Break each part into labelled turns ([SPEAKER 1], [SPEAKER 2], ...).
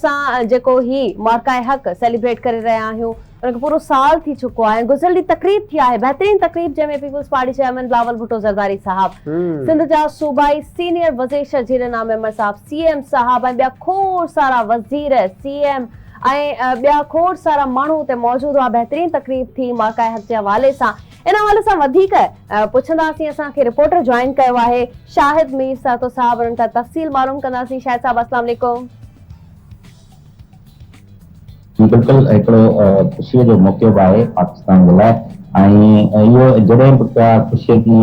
[SPEAKER 1] اسان جيڪو هي مارڪائي حق سيليبريٽ ڪري رهيا آهيون ان کي پورو سال ٿي چڪو آهي ۽ گذريل ڏينهن تقريب ٿي آهي بهترين تقريب جنهن ۾ Peoples Party chairman Bilawal Bhutto Zardari صاحب، سنڌ جا صوبائي سينيئر وزيرشرجيل نام ميمبر صاحب، سي ايم صاحب ۽ ٻيا کوڙ سارا وزير، سي ايم ۽ ٻيا کوڙ سارا ماڻهو اتي موجود هئا بهترين تقريب ٿي مارڪائي حق جي حوالي سان. ان حوالي سان وڌيڪ پڇنداسين اسان کي رپورٽر جوائن ڪيو آهي شاهد مير سهتو صاحب انهن کان تفصيل معلوم ڪنداسين شاهد صاحب اسلام عليڪم.
[SPEAKER 2] جي بلڪل هڪڙو خوشي جو موقعو به آهي پاڪستان جي لاء ۽ اهو جڏهن به ڪا خوشي جي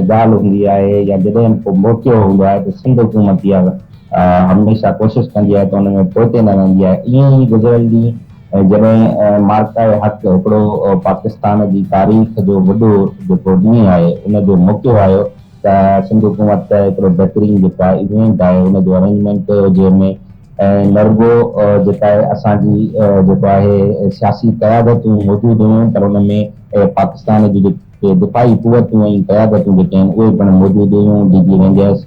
[SPEAKER 2] ڳالهه هوندي آهي يا جڏهن به ڪو موقعو هوندو آهي ته سنڌ حڪومت اها هميشه ڪوشش ڪندي آهي ته ان ۾ پوئتي نه رهندي آهي ائين ئي گذريل ڏينهن ۽ جڏهن معرڪه حق هڪڙو پاڪستان جي تاريخ جو وڏو جيڪو ڏينهن آهي ان جو موقعو آيو ته سنڌ حڪومت ته هڪڙو بهترين جيڪا ايونٽ آهي ان جو ارينجمينٽ ڪيو جنهن ۾ نرگو جيڪا آهي اسان جي جيڪو آهي سياسي قيادتون موجود هيون پر ان ۾ پاڪستان جي ڪي دفاعي قوتون ۽ قيادتون جيڪي آهن اهي پڻ موجود هيون، ڊي جي رينجرس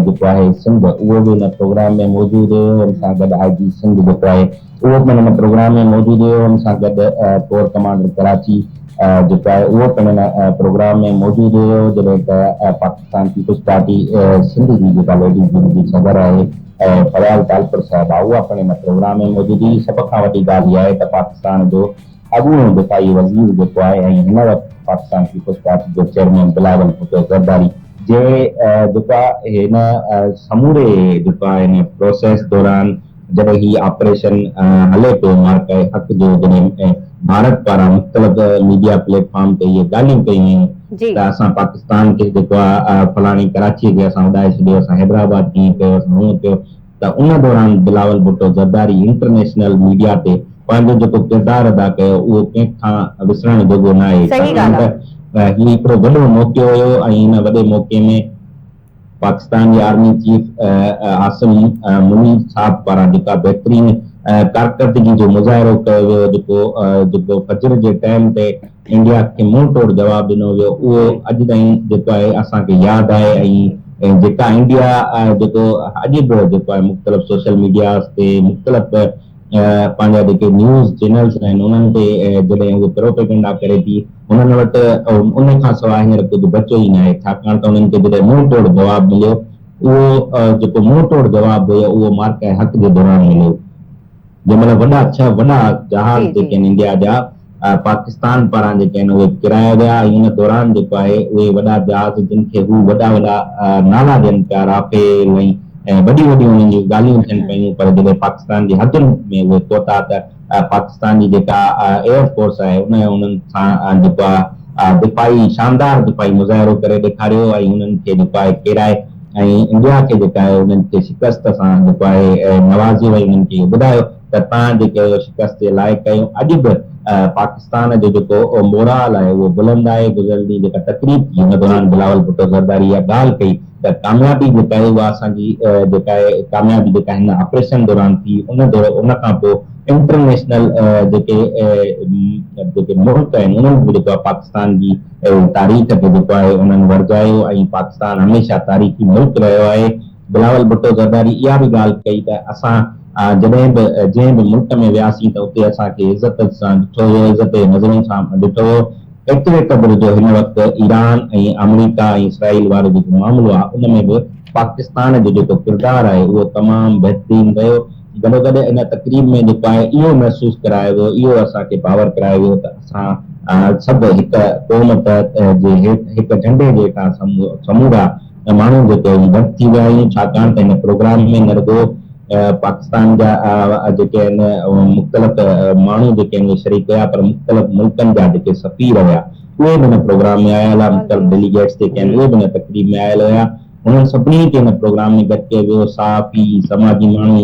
[SPEAKER 2] جيڪو آهي سنڌ اهو به ان پروگرام ۾ موجود هيو، ان سان گڏ آء جي سنڌ جيڪو آهي اهو پڻ ان پروگرام ۾ موجود هيو، ان سان گڏ ڪور ڪمانڊر ڪراچي جيڪو آهي اهو پڻ ان پروگرام ۾ موجود هيو، جڏهن ته پاڪستان پيپلز پارٽي سنڌ جي جيڪا ليڊيز ونگ جي صدر آهي فياض ٽالپر صاحبه اها پڻ ان پروگرام ۾ موجود هئي، سڀ کان وڏي ڳالهه اها آهي ته پاڪستان جو اڳوڻو دفاعي وزير جيڪو آهي ۽ هن وقت پاڪستان پيپلز پارٽي جو چيئرمين بلاول ڀٽو زرداري جي جيڪو آهي هن سموري جيڪو آهي هن پروسيس دوران جڏهن هي آپريشن هلي پيو مارڪه حق جو جڏهن ڀارت پاران مختلف ميڊيا پليٽ فارم تي اهي ڳالهيون ڪيون ويون جي. ته اسان پاڪستان کي جيڪو آهي فلاڻي ڪراچي کي اسان اڏائي ڇڏيو اسان حيدرآباد هيئن ڪيو اسان هونئن ڪيو ته ان دوران بلاول ڀٽو زرداري انٽرنيشنل ميڊيا تي پنهنجو جيڪو ڪردار ادا ڪيو اهو ڪنهن کان وسرڻ جوڳو ناهي ڇاڪاڻ ته هي هڪڙو وڏو موقعو هيو ۽ ان وڏي موقعي ۾ پاڪستان جي آرمي چيف عاصم منير صاحب پاران جيڪا بهترين ڪارڪردگي جو مظاهرو ڪيو ويو جيڪو جيڪو فجر جي ٽائيم تي انڊيا کي منهن ٽوڙ جواب ڏنو ويو اهو اڄ تائين جيڪو آهي اسان کي ياد آهي ۽ جيڪا انڊيا جيڪو اڄ به جيڪو آهي مختلف سوشل ميڊياز تي مختلف پنهنجا جيڪي نيوز چينلز آهن انهن تي جڏهن اهو پروپيگنڊا ڪري ٿي انهن وٽ ان کان سواء هينئر ڪجهه بچيو ئي ناهي ڇاڪاڻ ته انهن کي جڏهن منهن ٽوڙ جواب مليو اهو جيڪو منهن ٽوڙ جواب هيو اهو معرڪه حق جي دوران مليو. جنهن مهل وڏا ڇهه وڏا جهاز جيڪي آهن انڊيا جا پاڪستان پاران جيڪي آهن اهي ڪرايا ويا ۽ ان دوران جيڪو آهي اهي وڏا جهاز جن کي هو وڏا وڏا نالا ڏين پيا رافيل ۽ وڏيون وڏيون انهن جون ڳالهيون ٿين پيون پر جڏهن پاڪستان جي حدن ۾ اهي پهتا ته پاڪستان جي جيڪا ايئر فورس آهي ان انهن سان جيڪو آهي دفاعي شاندار دفاعي مظاهرو ڪري ڏيکاريو ۽ انهن کي جيڪو آهي ڪيرائي ۽ انڊيا کي جيڪا آهي انهن کي شڪست سان جيڪو آهي نوازي وئي انهن کي اهو ٻڌايو ته تان جيڪي اهو شڪست جي لائق ڪيو اڄ به پاڪستان جو جيڪو مورال آهي اهو بلند آهي گذريل ڏينهن جيڪا تقريب ٿي ان دوران بلاول ڀٽو زرداري اها ڳالهه ڪئي ته ڪاميابي جيڪا آهي اها اسان جي جيڪا آهي ڪاميابي جيڪا هن آپريشن دوران ٿي ان ان کان پوء انٽرنيشنل جيڪي جيڪي ملڪ آهن انهن به جيڪو آهي پاڪستان جي اهو تاريخ کي جيڪو آهي انهن ورجايو ۽ پاڪستان هميشه تاريخي ملڪ رهيو آهي. بلاول ڀٽو زرداري اها به ڳالهه ڪئي ته اسان جڏهن به جنهن به ملڪ ۾ وياسين ته اتي اسان کي عزت سان ڏٺو ويو، عزت جي نظرن سان ڏٺو ويو، ايتري قدر جو هن وقت ايران ۽ آمريڪا ۽ اسرائيل وارو جيڪو معاملو آهي ان ۾ به پاڪستان جو جيڪو ڪردار آهي اهو تمام بهترين رهيو. گڏوگڏ ان تقريب ۾ نپائي اهو محسوس ڪرايو ويو، اهو اسان کي باور ڪرايو ويو ته اسان سڀ هڪ قوم تحت جي هيٺ هڪ جهنڊي جي هيٺان سمورا ماڻهو جيڪي آهيون گڏ ٿي ويا آهيون ڇاڪاڻ ته هن پروگرام ۾ نه رڳو پاڪستان جا جيڪي آهن مختلف ماڻهو جيڪي آهن اهي شريڪ هيا پر مختلف ملڪن جا جيڪي سفير هيا اهي به هن پروگرام ۾ آيل هئا مختلف ڊيليگيٽس جيڪي آهن اهي به هن تقريب ۾ آيل هيا انهن سڀني کي هن پروگرام ۾ گڏ ڪيو ويو صحافي سماجي ماڻهو